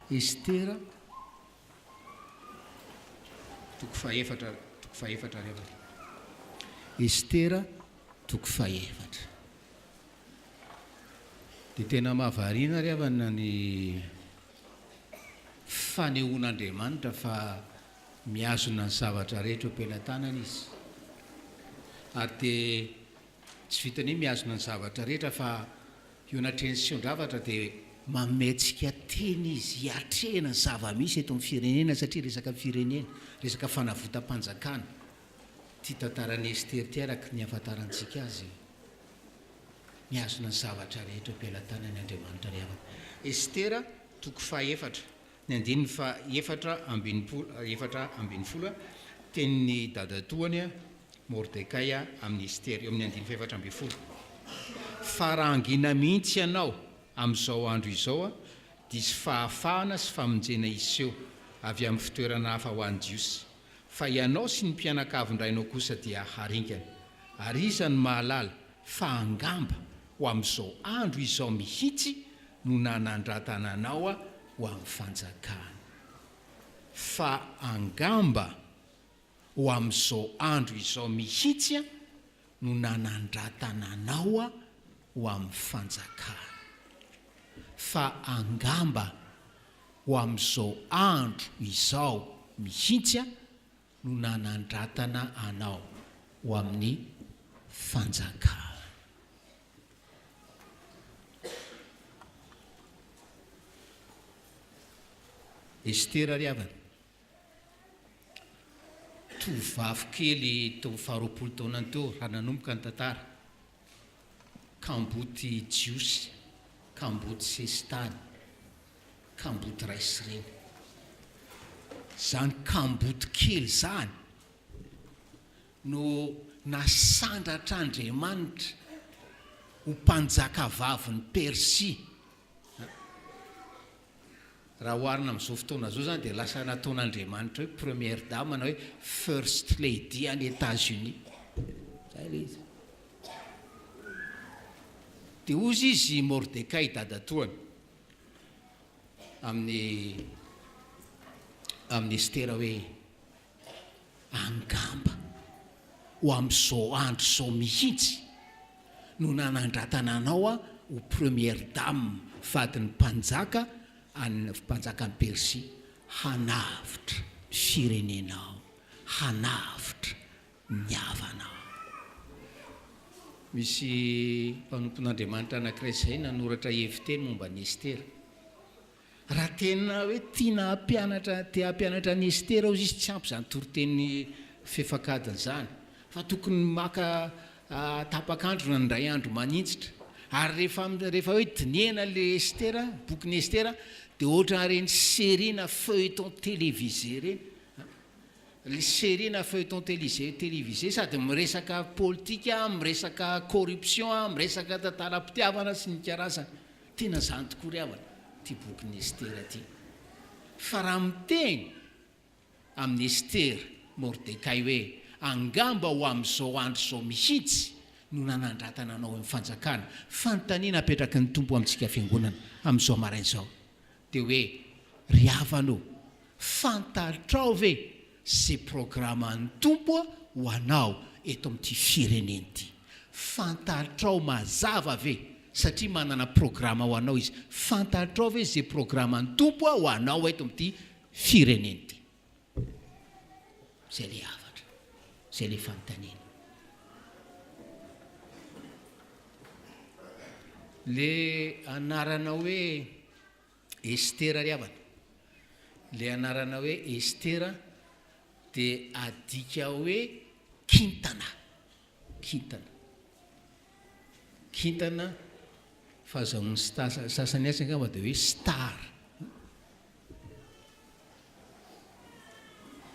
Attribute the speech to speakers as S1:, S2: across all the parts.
S1: Estera toko fahefatra toko fahefatra ary avaka Estera toko fahefatra dia tena mahavariana ary avana ny fanehoan'Andriamanitra fa miazona ny zavatra rehetra eo am-pelatanana izy ary dia tsy vitany hoe miazona ny zavatra rehetra fa Eo anatrehan'ny seho-javatra dia manome antsika teny izy hiatrehana ny zava-misy eto amin'ny firenena satria resaka firenena, resaka fanavotam-panjakana ity tantaran'i Ester ity araka ny ahafantarantsika azy. Mihazona ny zavatra rehetra eo am-pelatanany Andriamanitra ry havana. Estera, toko fahaefatra, Ny andininy faha efatra ambin'ny polo efatra ambin'ny folo, Tenin'ny dadatoany Mordekay amin'i Estery, eo amin'ny andininy faha efatra ambin'ny folo, Fa raha hangina mihitsy ianao amin'izao andro izao, diso fahafahana sy famonjena hiseho avy amin'ny fitoerana hafa ho an'ny Jiosy, fa ianao sy ny mpianakavin-drainao kosa dia haringana. Ary iza no mahalala fa angamba ho amin'izao andro izao mihitsy no nanandratana anao ho amin'ny fanjakana. Fa angamba ho amin'izao andro izao mihitsy no nanandratana anao ho amin'ny fanjakana. Fa angamba ho amin'izao andro izao mihitsy no nanandratana anao ho amin'ny fanjakany. Estera ry havana, tovovavy kely teo amin'ny faharoapolo taonany teo raha nanomboka ny tantara. Kamboty jiosy, kamboty sesitany, kamboty raisireny. Zany kamboty kely zany no nasandratr'Andriamanitra ho mpanjakavavin'i Persia. Raha oharina amin'izao fotoana izao izany dia lasa nataon'Andriamanitra hoe Première Dame na hoe First Lady any Etats-Unis. Izay ilay izy. Dia hozy izy i Mordekay dadatoany amin'ny amin'ny Estera hoe Angamba ho amin'izao andro izao mihitsy no nanandratana anao ho Première Dame, vadin'ny Mpanjaka any Mpanjakan'i Persia, hanavotra ny firenenao, hanavotra ny havanao. Misy mpanompon'Andriamanitra anankiray izay nanoratra heviteny momba an'i Estera. Raha tena hoe tiana hampianatra, te hampianatra an'i Estera hozy izy, tsy ampy izany toriteny fefak'adiny izany, fa tokony maka tapak'andro na indray andro maninjitra. Ary rehefa, rehefa hoe dinihana ilay Estera, bokin'i Estera, dia ohatran'ny ireny série na feuilleton télévisé ireny. Ilay série na feuilleton télisé, télévisé, sady miresaka politika, miresaka corruption, miresaka tantaram-pitiavana sy ny karazany. Tena zany tokoa ry havana ty bokin'i Estera ty fa raha miteny amin'i Estera Mordekay hoe angamba ho amin'izao andro izao mihitsy no nanandratana anao eo amin'ny fanjakana, fanontaniana apetraky ny Tompo amintsika fiangonana amin'izao maraina izao Dia hoe, Ry havana ô, fantatrao ve izay programan'ny Tompo ho anao eto amin'ity firenena ity? Fantatrao mazava ve, satria manana programa ho anao Izy, fantatrao ve izay programan'ny Tompo ho anao eto amin'ity firenena ity? Izay ilay hafatra, izay ilay fanontaniana. Le anarana hoe Estera ry havana, le anarana hoe Estera dia adika hoe kintana. Kintana. Kintana, fahazahoan'ny star, sasany atsy angamba dia hoe star.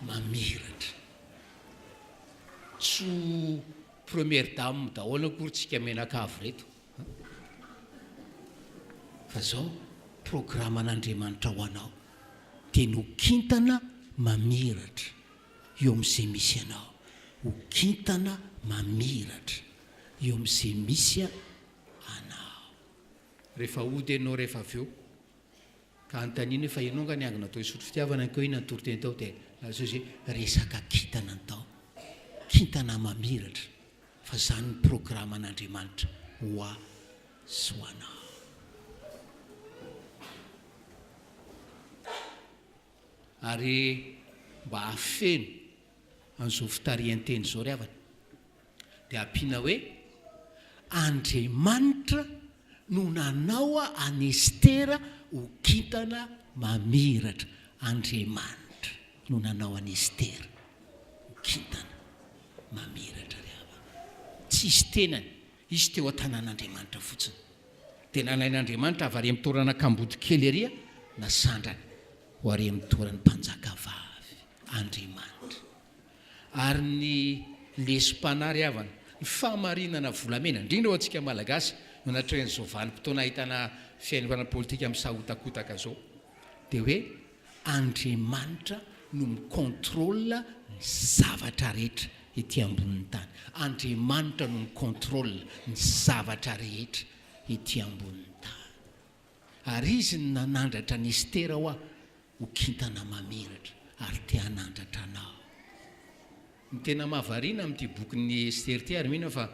S1: Mamiratra. Tsy ho première dame daholo akory tsika menakavy reto an! Fa izao programan'Andriamanitra ho anao dia ny ho kintana mamiratra. Eo amin'izay misy anao. Ho kintana mamiratra. Eo amin'izay misy anao. Rehefa hody ianao rehefa avy eo, ka anontaniana hoe fa ianao angaha niangona tao hisotro fitiavana keo inona ny toriteny tao dia lazao izay resaka kintana ny tao. Kintana mamiratra fa izany ny programan'Andriamanitra ho ahy sy ho anao. Ary mba hahafeno an'izao fitarihan-teny izao ry havana dia ampiana hoe, Andriamanitra no nanao an'i Estera ho kintana mamiratra. Andriamanitra no nanao an'i Estera ho kintana mamiratra ry havana. Tsisy tenany. Izy teo an-tanàn'Andriamanitra fotsiny, dia nalain'Andriamanitra avy ary amin'ny toerana kamboty kely ery na sandrana, ho ary amin'ny toeran'ny mpanjakavavy, Andriamanitra. Ary ny lesom-panahy ry havana, ny fahamarinana volamena, indrindra ho antsika Malagasy, no natrehin'izao vanim-potoana ahitana fihainoana politika misahotakotaka izao, dia hoe Andriamanitra no mi contrôle ny zavatra rehetra ety ambonin'ny tany. Andriamanitra no mi contrôle ny zavatra rehetra ety ambonin'ny tany. Ary Izy no nanandratra an'i Estera hoa ho kintana mamiratra, ary te hanandratra anao. Ny tena mahavariana amin'ity bokin'i Estera ity, ary mino aho fa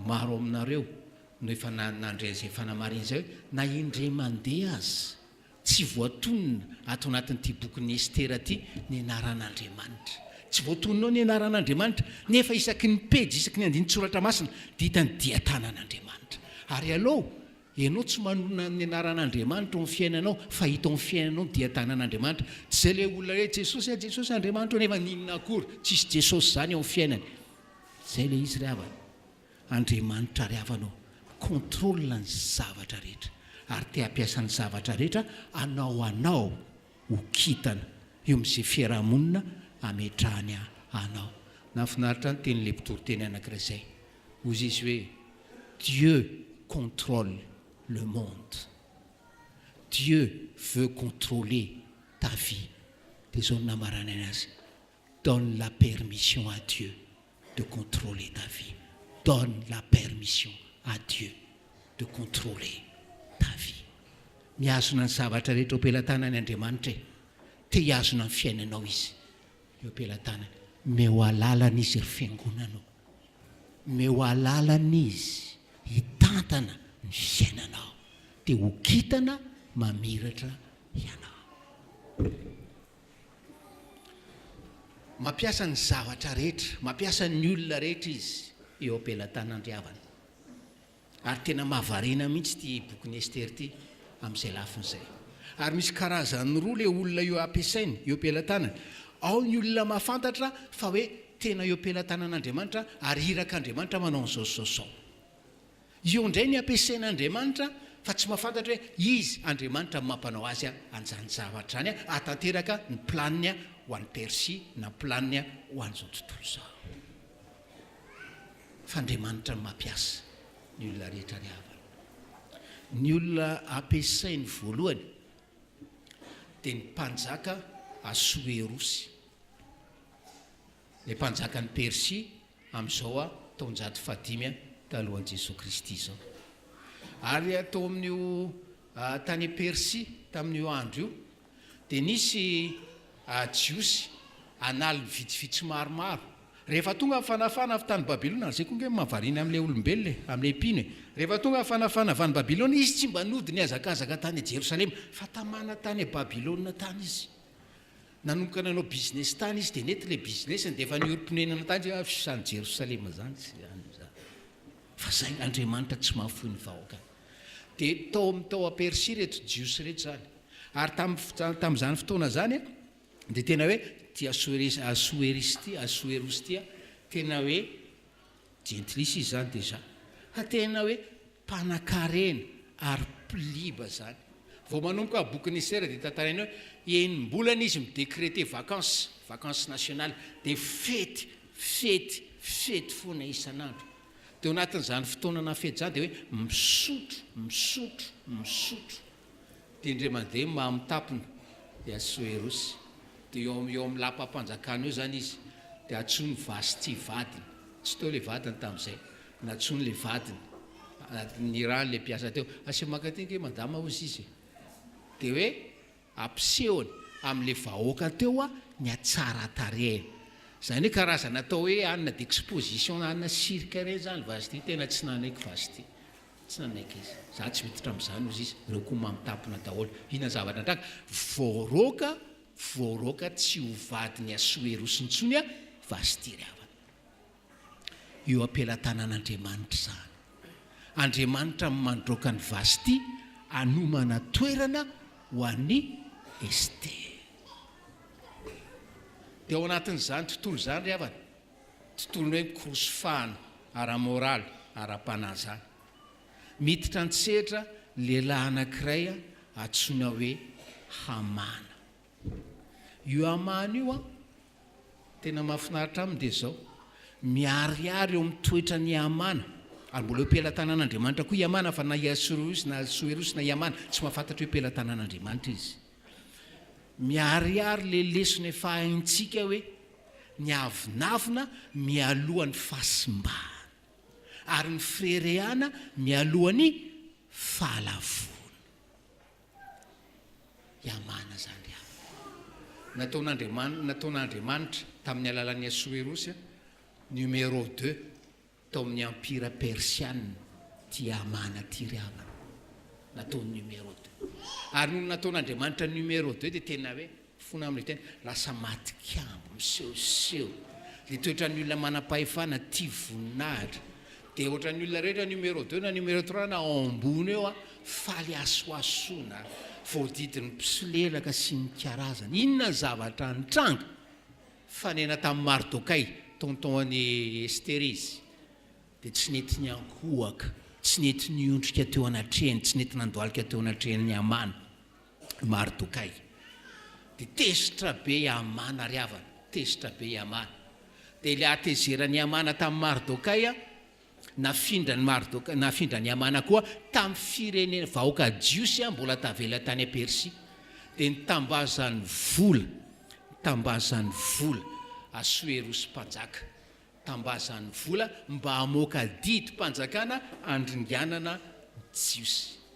S1: maro aminareo no efa nandre izay fanamarinana izay hoe, na indray mandeha aza Tsy voatonona ato anatin'ity bokin'i Estera ity ny anaran'Andriamanitra. Tsy voatonona ao ny anaran'Andriamanitra, nefa isaky ny pejy, isaky ny andinin-tsoratra masina dia hita ny dian-tanan'Andriamanitra. Ary aleo ianao tsy manonona ny anaran'Andriamanitra ao amin'ny fiainanao, fa hita ao amin'ny fiainanao ny dian-tanan'Andriamanitra. Tsy izay ilay olona hoe, Jesosy a, Jesosy a, Andriamanitro a, nefa n'inona akory, tsisy Jesosy izany ao amin'ny fiainany. Izay ilay izy ry havana. Andriamanitra ary havana ô, contrôle ny zavatra rehetra ary te hampiasa ny zavatra rehetra hanao anao ho kintana eo amin'izay fiarahamonina hametrahany anao. Nahafinaritra ahy ny tenin'ilay mpitory teny anankiray izay. Hozy izy hoe, Dieu contrôle le monde. Dieu veut contrôler ta vie. Dia izao no namaranany azy. Donne la permission à Dieu de controler ta vie, donne la permission à Dieu de controler ta vie. Mihazona ny zavatra rehetra eo am-pelatanany Andriamanitra e! Te hihazona ny fiainanao Izy eo am-pelatanany. Meo alalana Izy ry Fiangonana o! Meo alalana Izy hitantana ny fiainanao, dia ho kintana mamiratra ianao. Mampiasa ny zavatra rehetra, mampiasa ny olona rehetra izy eo am-pelatanandriavana. Ary tena mahavariana mihitsy ity bokin'i Estere ity amin'izay lafiny izay. Ary misy karazany roa ilay olona eo ampiasainy, eo am-pelatanany. Ao ny olona mahafantatra fa hoe tena eo am-pelatanan'Andriamanitra ary irak'Andriamanitra manao an'izao sy izao sy izao. Io indray ny ampiasaina Andriamanitra fa tsy mahafantatra hoe izy Andriamanitra no mampanao azy an'izany zavatra izany hahatanteraka ny planiny ho an'i Persia na ny planiny ho an'izao tontolo izao. Fa Andriamanitra no mampiasa ny olona rehetra ry havana. Ny olona ampiasainy voalohany dia ny mpanjaka Asoerosy, ilay mpanjakan'i Persia, amin'izao taonjato fahadimy talohan'i Jesoa Kristy izao. Ary tao amin'io tany Persia tamin'io andro io, dia nisy Jiosy an'aliny vitsivitsy maromaro. Rehefa tonga ny fanafahana avy tany Babylona, izay koa ange no mahavariana amin'ilay olombelona e, amin'ilay mpino e. Rehefa tonga ny fanafahana avy any Babylona, izy tsy mba nody nihazakazaka tany Jerosalema, fa tamana tany Babylona tany izy. Nanomboka nanao business tany izy dia nety ilay business-ny dia efa niorim-ponenana tany izy hoe avy any Jerosalema izany sy any izany. Fa izay, Andriamanitra tsy mahafoy ny vahoakany. Dia tao amin'ny tao Persia ireto Jiosy ireto izany. Ary tamin'ny tamin'izany fotoana izany dia tena hoe ity Asoeris, Asoeris ity, Asoeros ity, tena hoe jentilisa izy izany déjà. Fa tena hoe Mpanakarena ary pliba zany. Vao manomboka bokin'i Estera dia tantaraina hoe enim-bolana izy mi-decreter vacances, vacances nationales, dia fety, fety, fety foana isan'andro. Dia ao anatin'izany fotoana nafety izany dia hoe misotro, misotro, misotro. Dia indray mandeha ny maha-mitapona dia Assoerosy. Dia eo amin'ny eo amin'ny lapam-panjakana eo izany izy. Dia antsoin'i Vasty vadiny. Tsy teo ilay vadiny tamin'izay. Nantsoiny ilay vadiny. Nirahany ilay mpiasa teo. Asia maka aty ange madama hozy izy e. Dia hoe ampisehony amin'ilay vahoaka teo hoa ny hatsaran-tarehiny. Izany hoe karazana atao hoe anona d'exposition na anona cirque ireny izany Vasty. Tena tsy nanaiky Vasty. Tsy nanaiky izy. Za tsy miditra amzany ozy izy, reo ko mamtapina daholo. Ina zavatra nitranga? Voaroaka voaroaka tsy ho vadiny asoeros intsony a Vasthy ry havana. Eo ampelatanana Andriamanitra izany. Andriamanitra no mandroaka an'i Vasthy anomana toerana ho an'i Esther. Dia ao anatin'izany tontolo izany ry havana, tontolon'ny hoe korosy fano ara-moraly, ara-panahy izany. Miditra an-tsehatra lehilahy anankiray antsoina hoe Hamana. Io Hamana io an, tena mahafinaritra aminy dia izao, miharihary eo amin'ny toetran' i Hamana, ary mbola eo am-pelatanana Andriamanitra koa i Hamana fa na i Asororosy na Asoerosy na i Hamana tsy mahafantatra hoe pelatanana Andriamanitra izy. Miharihary ilay lesona efa haintsika hoe ny avonavona mialoha ny fahasimbana, ary ny fireharehana mialoha ny fahalavoana. Yamana izany ry havana. Nataon'Andriamanitra, nataon'Andriamanitra tamin'ny alalan'i Asoerosy, numéro deux. Tao amin'ny Empira Persiana Tiamat na Tiriaman no atao numéro deux. Ary nony nataon'Andriamanitra numéro deux dia tena hoe fona amin'ilay tena lasa maty kiambo, misehoseho. Ilay toetran'ny olona manam-pahefana, tia voninahitra. Dia ohatran'ny olona rehetra numéro deux na numéro trois na ao ambony eo faly hasohasoana, voadidin'ny mpisolelaka sy ny karazany. Inona ny zavatra nitranga? Fanena tamin'i Mardokay, tonton an'i Estera izy, dia tsy nety niankohoka, tsy nety niondrika teo anatrehany, tsy nety nandohalika teo anatrehan'i Hamana i Mardokay. Dia tezitra be i Hamana ry havana, tezitra be i Hamana. Dia ilay hatezeran'i Hamana tamin'i Mardokay, Nafindran'i Mardoka, nafindran'i Hamana koa tamin'ny firenena, vahoaka jiosy mbola tavela tany Persia. Dia nitambazan'ny vola, nitambazan'ny vola Asoerosy mpanjaka, nitambazan'ny vola mba hamoaka didim-panjakana handringanana ny Jiosy.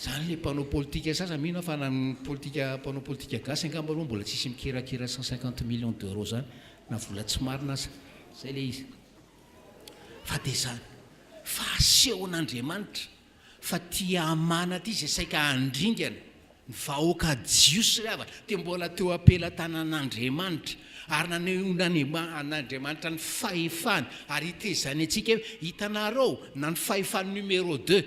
S1: Zany le mpanao politika sasany mino aho fa na ny politika mpanao politika gasy angamba aloha mbola tsisy mikirakira cent cinquante millions d'euros zany na vola tsy marina aza zay le izy fa de zany fa asehon'Andriamanitra fa tia amana ty zay saika handringana Ny vahoaka Jiosy ry havana dia mbola teo am-pelatanan'Andriamanitra, ary nanehoan'Andriamanitra ny fahefany, ary hitezany antsika hoe, Hitanareo, na ny fahefan'ny numéro deux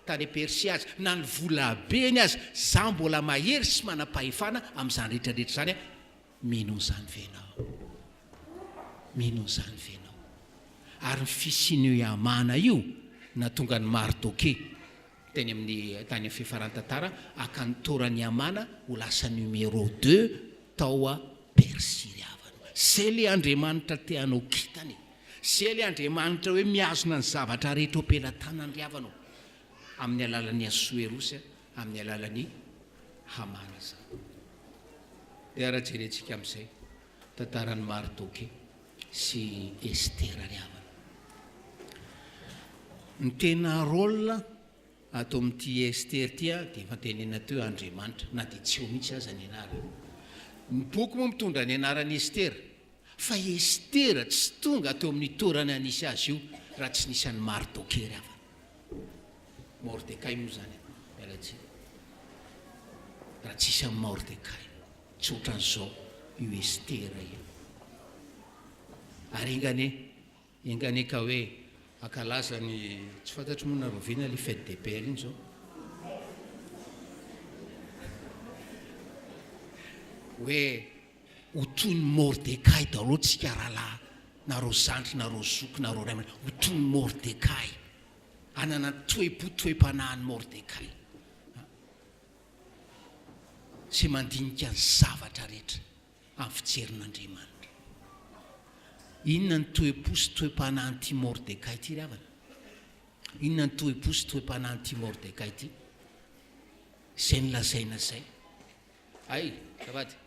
S1: tany Persia aza, na ny volabeny aza, izaho mbola mahery sy manam-pahefana amin'izany rehetrarehetra izany. Mino an'izany ve ianao? Mino an'izany ve ianao? Ary ny fisian'io Hamana io nahatonga an'i Mardokeo. teny amin'ny tany amin'ny fifaran-tantara haka ny toran'i Hamana ho lasa numéro deux tao Persia ry havana. Izay ilay Andriamanitra te hanao kintana e! Izay ilay Andriamanitra hoe mihazona ny zavatra rehetra eo am-pelatanany ry havana o! Amin'ny alalan'i Asoerosy, amin'ny alalan'i Hamana izany. Dia ary jerentsika amin'izay tantaran'i Mardoke. sy Estera ry havana. Ny tena rôle ato amin'ity Estera ity dia efa tenenina teo Andriamanitra na dia tsy eo mihitsy aza ny anarany. Ny boky moa mitondra ny anaran'i Estera fa Estera tsy tonga teo amin'ny toerana nisy azy io raha tsy nisy an'i Mardokay ry havana. Mordekay moa izany e, miala tsiny. Raha tsy hisy an'i Mordekay. Tsy otran'izao io Estera io. Ary enganie, enganie ka hoe ankalaza ny, tsy fantatro moa na roviana le fête des pères iny zao. Hoe ho toy ny Mordekay daholo tsika rahalahy, nareo zandry, nareo zoky, nareo ray aman-dreny, ho toy ny Mordekay. Hanana ny toe-po, toe-panahin'i Mordekay. sy mandinika ny zavatra rehetra amin'ny fijerin'Andriamanitra. Inona ny toe-po sy toe-panahin'ity Mordekay ity ry havana? Inona ny toe-po sy toe-panahin'ity Mordekay ity? Izay nolazaina izay. Hay, azafady.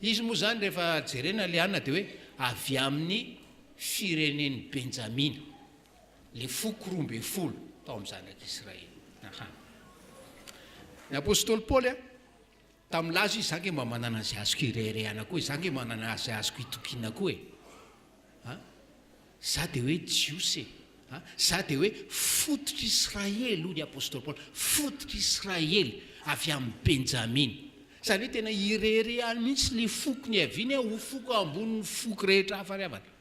S1: Izy moa izany rehefa jerena ilay anona dia hoe avy amin'ny firenen'i Benjamina. ny foko roa ambin'ny folo tao amin'ny zanak'Israely. Aha. Ny apostoly Paoly a, tamin'ny laza izy, za nge mba manana izay azoko ireharehana koa e, za nge manana izay azoko itokiana koa e. Ha? Za dia hoe Jiosy e. Ha? Za dia hoe fototr'Israely, hoy ny apostoly Paoly, fototr'Israely avy amin'ny Benjamina. Izany hoe tena ireharehany mihitsy ny foko niaviany ho foko ambonin'ny foko rehetra hafa ry havana.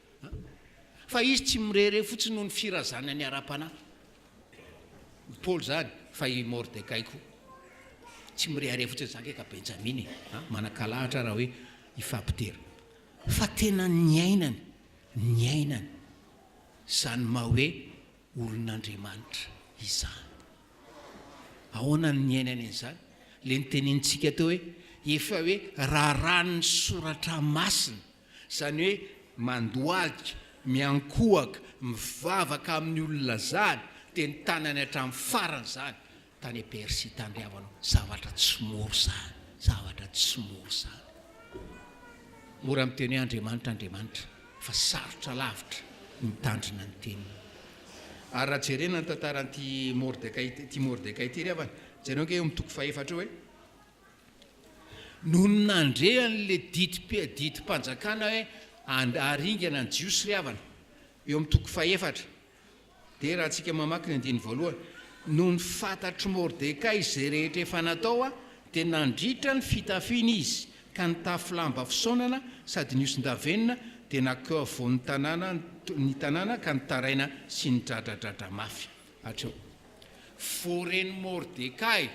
S1: Fa izy tsy mirehareha fotsiny noho ny firazanany ara-panahy. I Paoly izany, fa i Mordekay koa. Tsy mirehareha fotsiny, za nge ka Benjamina e! Manankalahatra raha hoe hifampidera. Fa tena niainany, niainany izany maha hoe olon'Andriamanitra izany. Ahoana no niainany an'izany? Ilay notenenintsika teo hoe, efa hoe raharahan'ny Soratra Masina. Izany hoe mandohalika, miankohaka, mivavaka amin'ny olona zany, dia ny tanany hatramin'ny farany izany, tany Persia tandriavanao. Zavatra tsy mora izany, zavatra tsy mora izany. Mora miteny hoe Andriamanitra, Andriamanitra, fa sarotra lavitra ny mitandrina ny teniny. Ary raha jerena ny tantaran'ity Mordekay, ity Mordekay ity ry havana, jereo ange eo amin'ny toko fahefatra eo hoe, Nony nandre an'ilay didim-panjakana hoe haringana ny Jiosy ry havana, eo amin'ny toko fahefatra dia raha tsika mamaky ny andininy voalohany, nony fantatr'i Mordekay izay rehetra efa natao dia nandritra ny fitafiny izy ka nitafy lamba fisaonana sady nihoson-davenona dia nankeo afovoan'ny tanàna ny tanàna ka nitaraina sy nidradradradra mafy. Hatreo. Vao ren'i Mordekay.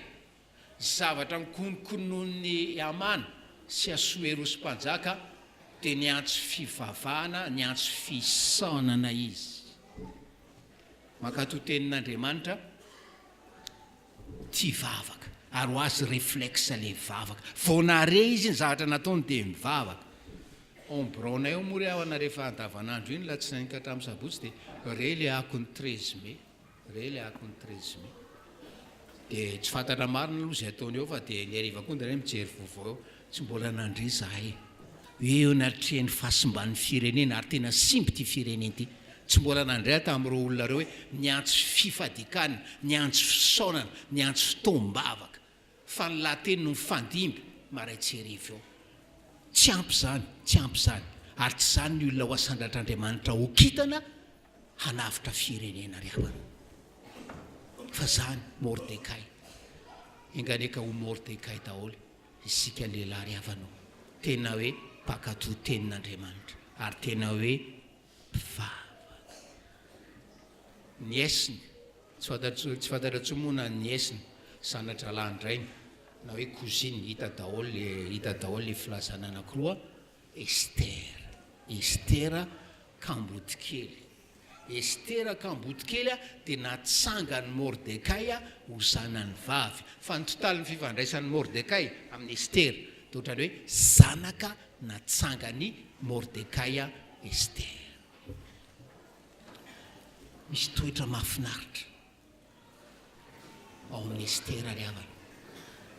S1: Zavatra nokononkononon'i Hamana sy Asoerosy mpanjaka dia niantso fivavahana, niantso fisaonana izy. Mankatò Tenin'Andriamanitra ity vavaka, ary ho azy reflexe ilay vavaka. Vao nahare izy ny zavatra nataony dia mivavaka. Ao amin'ny biraonay ao moa re havana rehefa andavanandro iny, alatsinainy ka hatramin'ny sabotsy dia re ilay akon'ny treize mai. Re le akony treize mai de tsy fantatra marina aloha zay ataony eo fa de ny hariva koa ndray mijery vaovao eo tsy mbola nandre zahay hoe eo natrehan'ny fahasimban'ny firenena ary tena simba ity firenena ity tsy mbola nandre aho tamin'ireo olona ireo hoe miantso fifadikana miantso fisaonana miantso fotoam-bavaka Fa ny lahateny no mifandimby marain-tsy hariva eo. Tsy ampy izany, tsy ampy izany. Ary tsy izany ny olona ho asandratr'Andriamanitra ho kintana hanavotra firenena ry havana. Fa izany, Mordekay. Enganeka ho Mordekay daholo isika lehilahy ry havana ô. Tena hoe mpankatò tenin'Andriamanitra. Ary tena hoe. vava. Nièce-ny, tsy fantatra intsony, tsy fantatra intsony moa na nièce-ny, zana-drahalahin-drainy, na hoe cousine, hita daholo le, hita daholo le filazana anakiroa, Esther, Esther Kambotikely. Esther Kambotikely a, dia natsangan'i Mordekay ho zanany vavy. Fa ny totalin'ny fifandraisan'i Mordekay amin'i Esther, dia ohatran'ny hoe zanaka natsangan'i Mordekay Esther. Misy toetra mahafinaritra ao amin'i Esther ry havana.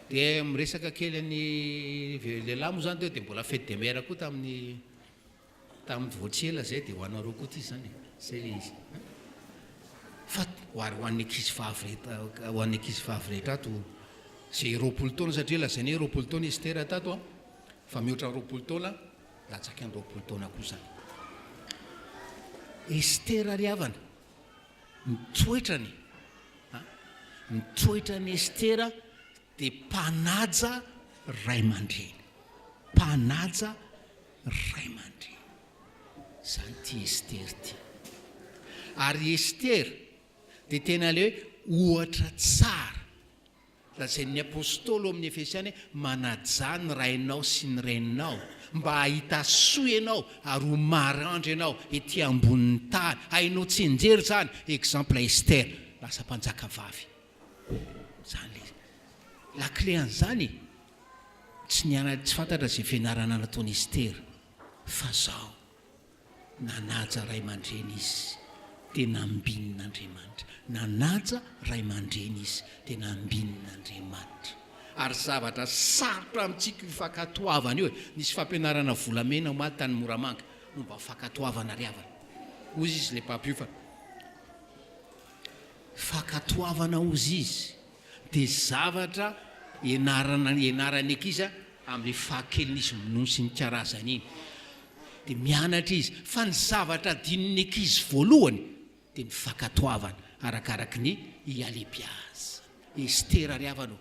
S1: Dia miresaka kely an'i lehilahy moa izany teo dia mbola fête des mères koa tamin'ny tamin'ny vao tsy ela izay dia ho anareo koa ity izany e, izay ilay izy an. Fa ho ary ho an'ny ankizivavy rehetra ho an'ny ankizivavy rehetra ato izay roapolo taona satria lazaina hoe roapolo taona i Esther tato an, fa mihoatra ny roapolo taona. Latsaky ny roapolo taona koa izany. Estera ry havana, mitoetra ny a, mitoetra ny Estera dia mpanaja ray aman-dreny, mpanaja ray aman-dreny. Izany ity Estera ity. Ary Estera dia tena ilay hoe ohatra tsara. Lazain'ny apostoly ao amin'ny Efesiana hoe, Manajà ny rainao sy ny reninao, mba hahita soa ianao ary ho maranitra ianao ety ambonin'ny tany. Hainao tsianjery izany. Exemple Esther, lasa mpanjaka vavy. Izany ilay izy. La clé an'izany e! Tsy niana, tsy fantatra izay fianarana nataon'i Esther, fa izao. Nanaja ray aman-dreny izy, dia nambinin' Andriamanitra. Nanaja ray aman-dreny izy, dia nambinin' Andriamanitra. Ary zavatra sarotra amintsika io fankatoavana io e! Nisy fampianarana volamena omaly tany Moramanga momba ny fankatoavana ry havana. Hozy izy ilay mpampiofana, Fankatoavana hozy izy. dia zavatra ianarana ianaran'ny ankizy amin'ny fahakeliny izy minono sy mikarazana iny dia mianatra izy fa ny zavatra adinon'ny ankizy voalohany dia ny fakatoavana arakaraky ny ialebiazany estera ry havana o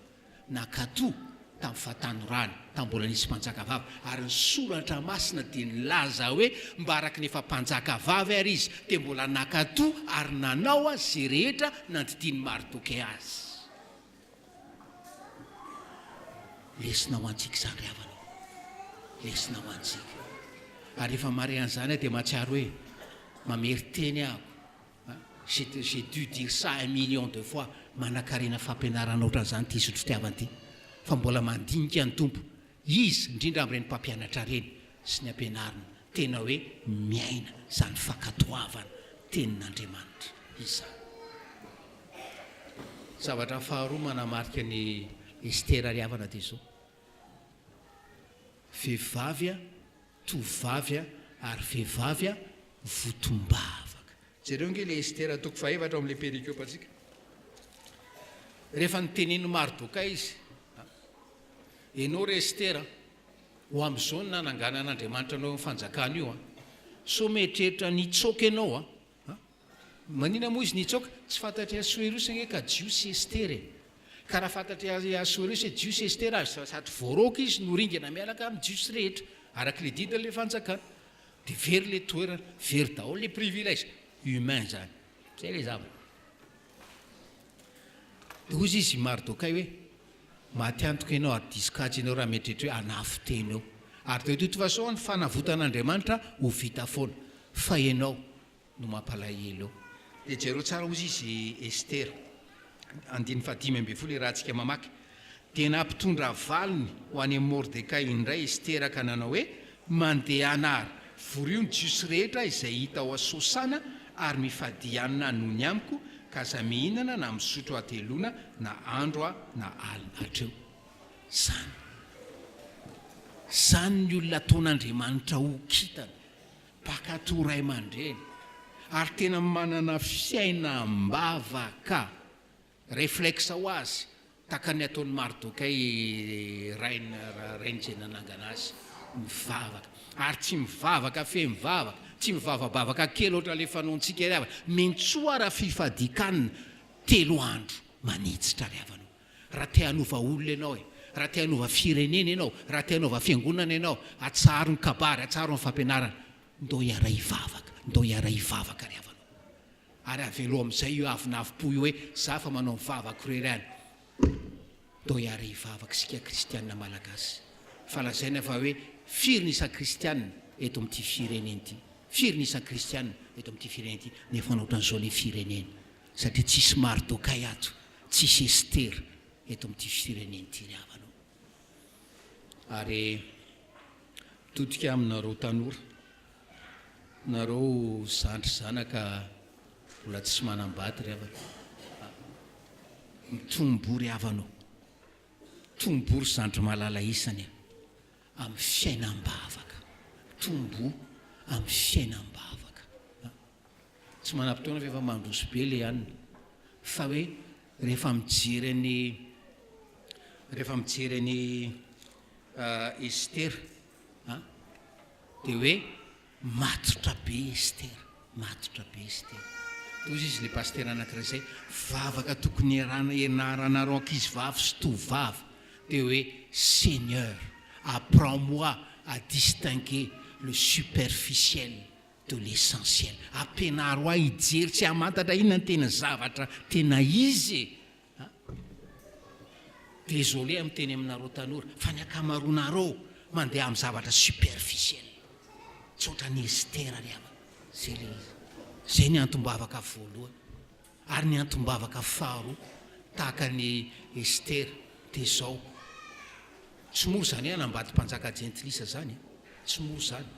S1: nakato tamin'ny fahatanorany, tamin'ny mbola nisy mpanjakavavy, ary ny Soratra Masina dia nilaza hoe mba araka ny efa mpanjakavavy àry izy, dia mbola nankatò ary nanao àry izay rehetra nandidian'i Mardoke azy. Lesona ho antsika izany ry havana ô! Lesona ho antsika. Ary rehefa mahare an'izany aho dia mahatsiaro hoe mamerin-teny aho. J'ai j'ai dû dire ça un million de fois, manankarena fampianarana ohatran'izany ity zotry fitiavana ity fa mbola mandinika ny Tompo Izy indrindra amin'ireny mpampianatra ireny sy ny ampianariny tena hoe miaina izany fankatoavana tenin'Andriamanitra izany. Zavatra faharoa manamarika an'i Estera ry havana dia izao, vehivavy tovovavy ary vehivavy votombavaka. Jereo ange ilay Estera toko fahaefatra ao amin'ilay perikopantsika. Rehefa notenenin'i Mardokay izy, Ianao re Estera, ho amin'izao no nananganan'Andriamanitra anao io fanjakana io. Sao mieritreritra ny hitsoaka ianao An? Manina moa izy nitsoaka? Tsy fantatr'i Asoerosy ange ka Jiosy i Estera e! Ka raha fantatr'i Asoerosy hoe Jiosy i Estera ary sady voaraoka izy no ringana miaraka amin'ny Jiosy rehetra, araka ilay didin'ilay fanjakana, dia very ilay toerana, very daholo ilay privilège humain izany. Izay ilay zavatra. Dia hoy izy i Mardokay hoe, Maty antoka ianao ary diso kajy ianao raha mieritreritra hoe hanafo tena eo. Ary de toute façon ny fanavotan'Andriamanitra ho vita foana. Fa ianao no mampalahelo eo. Dia jereo tsara hozy izy Esther andininy fahadimy ambin'ny folo iarahantsika mamaky, Dia nampitondra valiny ho any amin'i Mordekay indray Esther ka nanao hoe, Mandehana ary vorio ny jiosy rehetra izay hita ao Sosana ary mifadianina noho ny amiko, ka aza mihinana na misotro hateloana na andro na alina hatreo. Izany. Izany ny olona ataon'Andriamanitra ho kintana, mpankatò ray aman-dreny, ary tena manana fiaina am-bavaka. Reflexe ho azy, tahaka ny ataon'i Mardokay rainy, rainy izay nanangana azy, mivavaka, ary tsy mivavaka feno vavaka, tsy mivavabavaka kely hoatra ilay fanaontsika ry havana, mintsoa raha fifadikanina telo andro manitsitra ry havana o! Raha te hanova olona ianao e! Raha te hanova firenena ianao, raha te hanaova fiangonana ianao, atsaharo ny kabary, atsaharo ny fampianarana, ndao hiara-hivavaka, ndao hiara-hivavaka ry havana o! Ary avelo amin'izay io avonavompo io hoe za efa manao ny vavako irery any. Toa hiara hivavaka isika kristiana malagasy fa lazaina fa hoe firy ny isa-kristiana eto amin'ity firenena ity, firy ny isa-kristiana eto amin'ity firenena ity nefa ohatran'izao ny firenena satria tsisy Mardokay ato, tsisy Estera eto amin'ity firenena ity ry havana o. Ary todika aminareo tanora. Nareo zandry zanaka mbola tsy manambady ry havana ah mitombo ry havana o! Mitombo ry zandry malala isany a! amin'ny fiainam-bavaka mitombo amin'ny fiainam-bavaka a! Tsy manam-potoana fa efa mandroso be le anona fa hoe rehefa mijery an'i rehefa mijery an'i Estera an, dia hoe matotra be Esther, matotra be Esther. Dia hozy izy ilay pasitera anankiray izay, vavaka tokony iarahana ianaranareo ankizivavy sy tovovavy dia hoe Seigneur apprends moi à distinguer le superficiel de l'essentiel, ampianaro ahy hijery sy hamantatra inona no tena zavatra tena izy e! Désolé miteny aminareo tanora fa ny akamaronareo mandeha amin'ny zavatra superficiel. Tsy ohatran'i Estera ry havana. Zay ilay izy. Zay ny antom-bavaka voalohany. Ary ny antom-bavaka faharoa tahaka an'i Estera dia zao. Tsy moa zany hoe hanambady mpanjaka jentilisa zany e. Tsy moa zany.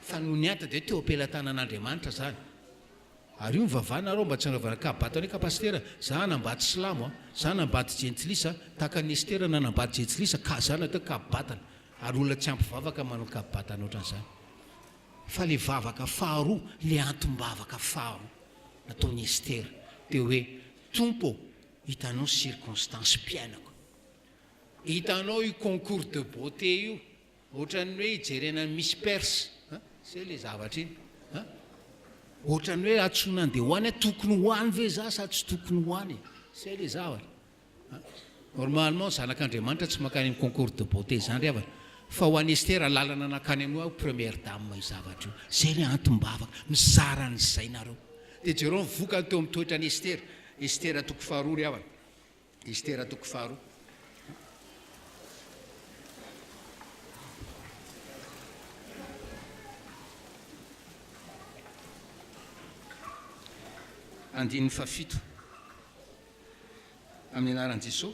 S1: Fa noho ny ady dia teo am-pelatanan'Andriamanitra zany. Ary io nivavahana rao mba tsy hanaovana kahabato anay ka Pasitera, za hanambady silamo a, za hanambady jentilisa tahaka an'i Estera nanambady jejilisa ka za natao kahabatana, ary olona tsy ampy vavaka manao kahabatana ohatran'izany. Fa le vavaka faharoa, le antom-bavaka faharoa nataon'i Estera dia hoe, Tompo ô, hitanao circonstance mpiainako, hitanao io concours de beauté io, Ohatran'ny hoe ijerena ny Miss Perse a! zay le zavatra iny a! ohatran'ny hoe antsoina andeha ho any a! tokony ho any ve za sa tsy tokony ho any e! zay le zavatra a! normalement zanak'Andriamanitra tsy mankany amin'ny concours de beauté izany ry havana fa ho an'i Estera lalana nankany amin'ny hoe première dame io zavatra io, zay le antom-bavaka, mizara an'izay nareo, de jereo ny vokany teo amin'ny toetran'i Estera, Estera toko faharoa ry havana. Estera toko faharoa. Andininy fahafito. Amin'ny anaran'i Jesoa,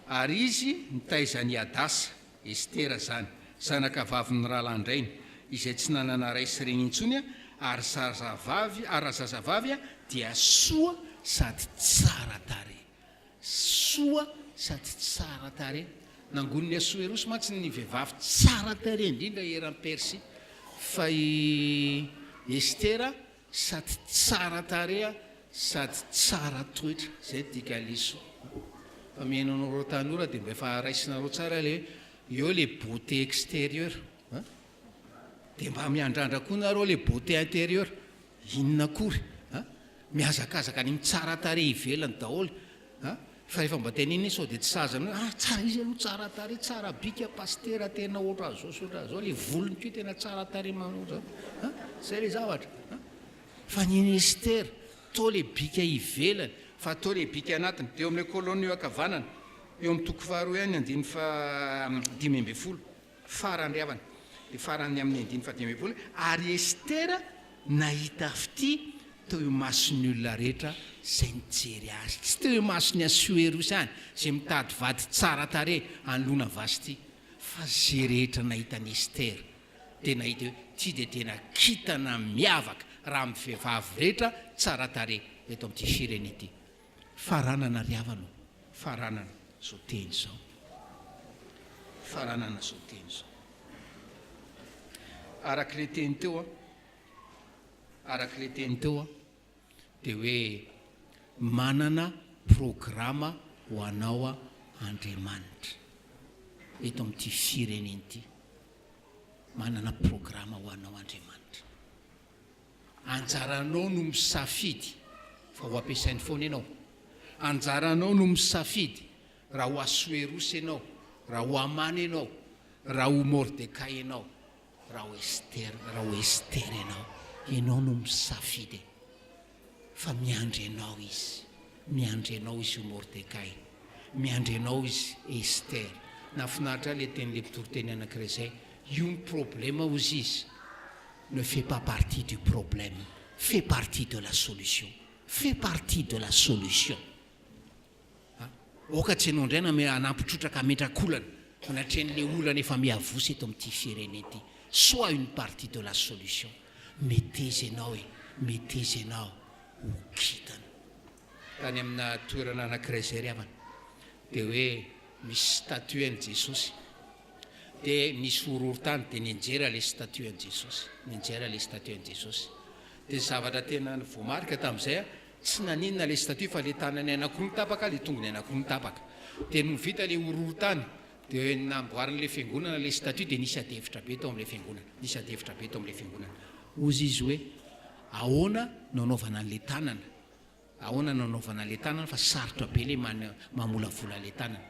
S1: ary izy nitaiza an'i Hadasa. Estera izany, zanaka vavin'ny rahalahin-drainy, izay tsy nanana ray sy reny intsony, ary zazavavy, ary raha zazavavy, dia soa sady tsara tarehy. Soa sady tsara tarehy. Nangonin'i Asoerosy mantsy ny vehivavy tsara tarehy indrindra eran'i Persia, fa i Estera Sady tsara tareha sady tsara toetra zay dika leso fa mihaino anao reo tanora de mba efa raisinareo tsara le hoe eo le beauté exterieur a de mba miandrandra koa nareo le beauté interieur inona akory a mihazakazaka ny mitsara tareha ivelany daholo a, fa rehefa mba ten iny sao dia tsy saza anao ah tsara izy aloha tsara tarehy tsara bika pasitera tena ohatran zao sy ohatran zao le volony ko tena tsara tarehy manao zao a zay le zavatra a fa ny ministera to le bika ivelany fa to le bika anatiny de eo amle kolonio akavanana eo am toko faharoa ihany andiny fa dimy ambe folo Farany havana, dia farany amin'ny andininy fahadimy ambin'ny folo, ary Estera nahita fitia teo imason'ny olona rehetra izay nijery azy, tsy teo imason'i Asoerosy ihany, izay mitady vady tsara tarehy hanoloana Vasty, fa izay rehetra nahita an'i Estera, dia nahita hoe ity dia tena kintana miavaka raha amin'ny vehivavy rehetra tsara tarehy eto amin'ity firena ity. Faranana ry havana ô, faranana izao teny izao. Faranana izao teny izao. Araka ilay teny teo an, araka ilay teny teo an, dia hoe manana programa ho anao an Andriamanitra eto amin'ity firenena ity. Manana programa ho anao Andriamanitra. Anjaranao no misafidy fa ho ampiasainy foana ianao. Anjaranao no misafidy raha ho Asoerosy ianao, raha ho Amana ianao, raha ho Mordekay ianao, raha ho Estera, raha ho Estera ianao. Ianao no misafidy e. Fa miandry anao izy. Miandry anao izy io Mordekay. Miandry anao izy Estera. Nahafinaritra ahy ilay tenin'ilay mpitoriteny anankiray izay, io ny problema hozy izy. ne fait pas partie du problème fait partie de la solution fait partie de la solution a! aoka tsy anao indray no hanampy trotraka hametrakolana anatrehan'ilay olana efa miavosa eto amin'ity firenena ity sois une partie de la solution meteza ianao e! meteza ianao ho kintana tany amina toerana anankiray izay ry havana dia hoe misy statue an'i Jesosy de misy horohorontany de nijerà le statut an'i Jesosy, nijerà le statut an'i Jesosy, de zavatra tena voamarika tamin'izay a, tsy naninona le statut fa le tanany anakiroa tapaka, le tongony anakiroa nitapaka, de nony vita le horohorontany de namboariny le fiangonana le statut de nisy adihevitra be tao amle fiangonana, nisy adihevitra be tao amle fiangonana, hozy izy hoe ahoana no anaovana anle tanana, Ahoana no anaovana le tanana fa sarotra be le mamolavola le tanana.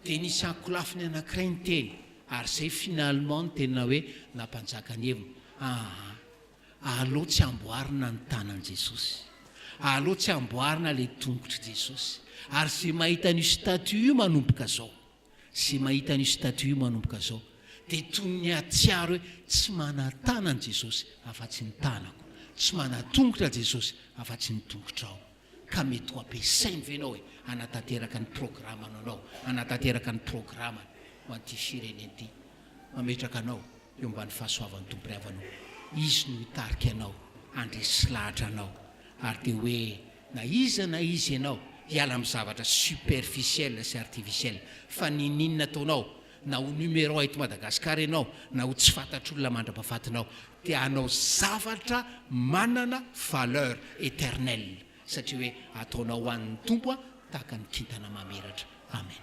S1: Dia nisy ankolafiny anankiray niteny ary zay finalement no tena hoe nampanjaka ny heviny. Aa aleo tsy amboarina ny tanan'i Jesosy. Aleo tsy amboarina le tongotr'i Jesosy. Ary ze mahita an'io statue io manomboka zao. Zay mahita an'io statut io manomboka zao dia toy ny hahatsiaro hoe tsy manan-tanana Jesosy afa-tsy ny tanako, tsy manan-tongotra Jesosy afa-tsy ny tongotrao. Ka mety ho ampiasainy ve ianao e, hanatanteraka ny programanao anao, hanatanteraka ny programany ho an'ity firenena ity. Mametraka anao eo ambany fahasoavan'ny Tompo Ray avanao. Izy no hitarika anao, handresy lahatra anao. Ary dia hoe. Na iza na iza ianao, hiala amin'ny zavatra superficiel sy artificiel. Fa ninin ataonao, na ho numéro un eto Madagascar ianao, na ho tsy fantatr'olona mandrapafatinao, dia hanao zavatra manana valeur eternelle, satria hoe ataonao ho an'ny Tompo tahaka ny kintana mamiratra. Amen.